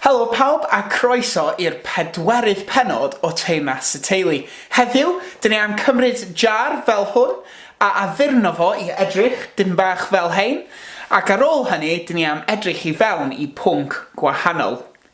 Helo pawb a croeso i'r pedwerydd pennod o Teyrnas y Teulu. Heddiw, dyn ni am cymryd jar fel hwn a addurno fo i edrych dipyn bach fel hein, ac ar ôl hynny dyn ni am edrych i fewn i pwnc gwahanol.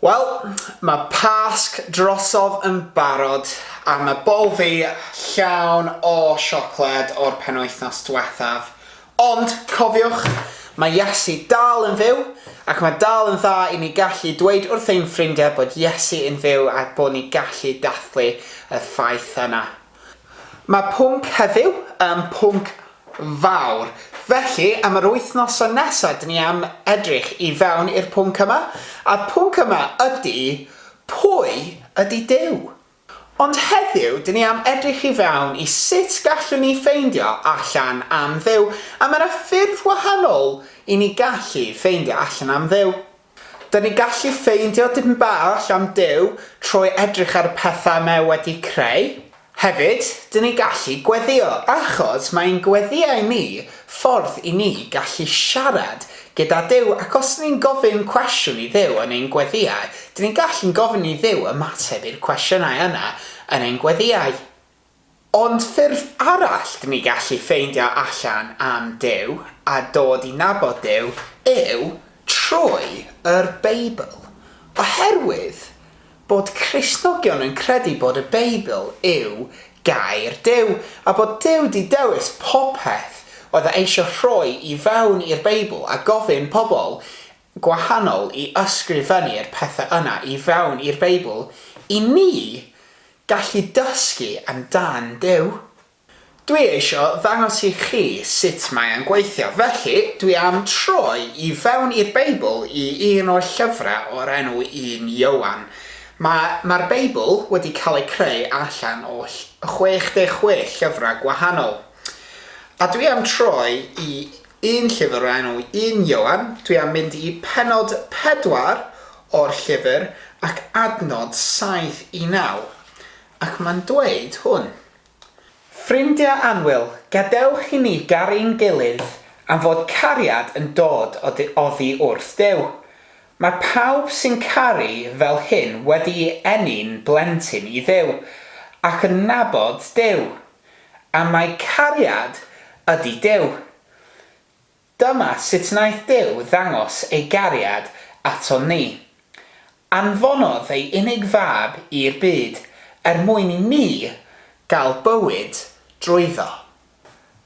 Wel, mae Pasg drosodd yn barod a mae bol fi llawn o siocled o'r penwythnos diwethaf. Ond, cofiwch, mae Iesu dal yn fyw, ac mae dal yn dda i ni gallu dweud wrth ein ffrindiau bod Iesu yn fyw a bod ni gallu dathlu y ffaith yna. Mae pwnc heddiw yn pwnc fawr, felly am yr wythnoson nesaf dyn ni am edrych i fewn i'r pwnc yma, a'r pwnc yma ydy, Pwy ydy Duw? Ond heddiw, dyn ni am edrych i fewn i sut gallwn ni ffeindio allan am Dduw, a mae yna ffyrdd wahanol i ni gallu ffeindio allan am Dduw. Dyn ni'n gallu ffeindio dipyn bach am Duw trwy edrych ar y pethau mae e wedi creu. Hefyd, dyn ni'n gallu gweddïo, achos mae ein gweddïau ni Ffordd i ni gallu siarad gyda Duw ac os dyn ni'n gofyn cwestiwn i Dduw yn ein gweddïau, dyn ni'n gallu'n gofyn i Dduw ymateb i'r cwestiynau yna yn ein gweddïau. Ond ffyrdd arall dyn ni gallu ffeindio allan am Duw a dod i nabod Duw yw trwy yr Beibl. Oherwydd Bod Cristnogion yn credu bod y Beibl yw Gair Duw, a bod Duw 'di dewis popeth oedd e eisiau rhoi i fewn i'r Beibl a gofyn pobl gwahanol i ysgrifennu'r pethau yna i fewn i'r Beibl i ni gallu dysgu amdan Duw. Dwi eisio ddangos i chi sut mae e'n gweithio, felly dwi am troi i fewn i'r Beibl i un o'r llyfrau o'r enw Un Ioan. Mae, mae'r Beibl wedi cael ei creu allan o 66 llyfrau gwahanol. A dwi am troi i un llyfr o'r enw Un Ioan, dwi am mynd i pennod 4 o'r llyfr ac adnod 7 i 9, ac mae'n dweud hwn. Ffrindiau annwyl, gadewch i ni garu'n gilydd am fod cariad yn dod o du oddi wrth Duw. Mae pawb sy'n caru fel hyn wedi'i eni'n blentyn i Dduw, ac yn nabod Duw. A mae cariad ydi Duw. Dyma sut wnaeth Duw ddangos ei gariad aton ni. Anfonodd ei unig Fab i'r byd er mwyn i ni gael bywyd drwyddo.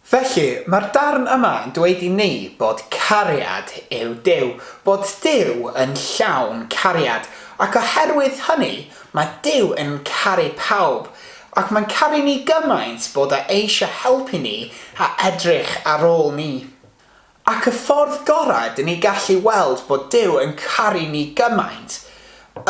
Felly, mae'r darn yma yn dweud i ni bod cariad yw Duw, bod Duw yn llawn cariad, ac oherwydd hynny, mae Duw yn caru pawb, Ac mae'n caru ni gymaint bod e eisiau helpu ni a edrych ar ôl ni. Ac y ffordd gorau dŷn ni gallu weld bod Duw yn caru ni gymaint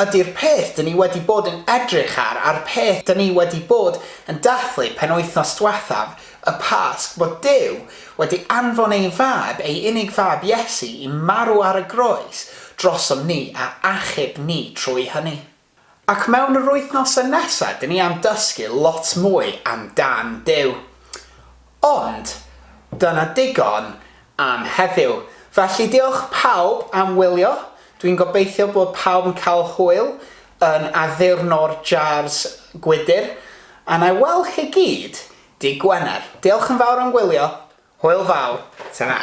ydy'r peth dŷn ni wedi bod yn edrych ar a'r peth dŷn ni wedi bod yn dathlu penwythnos dwethaf, y Pasg, bod Duw wedi anfon ei Fab, ei unig Fab Iesu, i marw ar y groes drosom ni a achub ni trwy hynny. Ac mewn yr wythnosau nesaf, dyn ni am dysgu lot mwy am dan Duw. Ond, dyna digon am heddiw. Felly, diolch pawb am wylio. Dwi'n gobeithio bod pawb yn cael hwyl yn addurno'r jars gwydr. A na i weld chi gyd dy' Gwener. Diolch yn fawr am wylio. Hwyl fawr. Tara.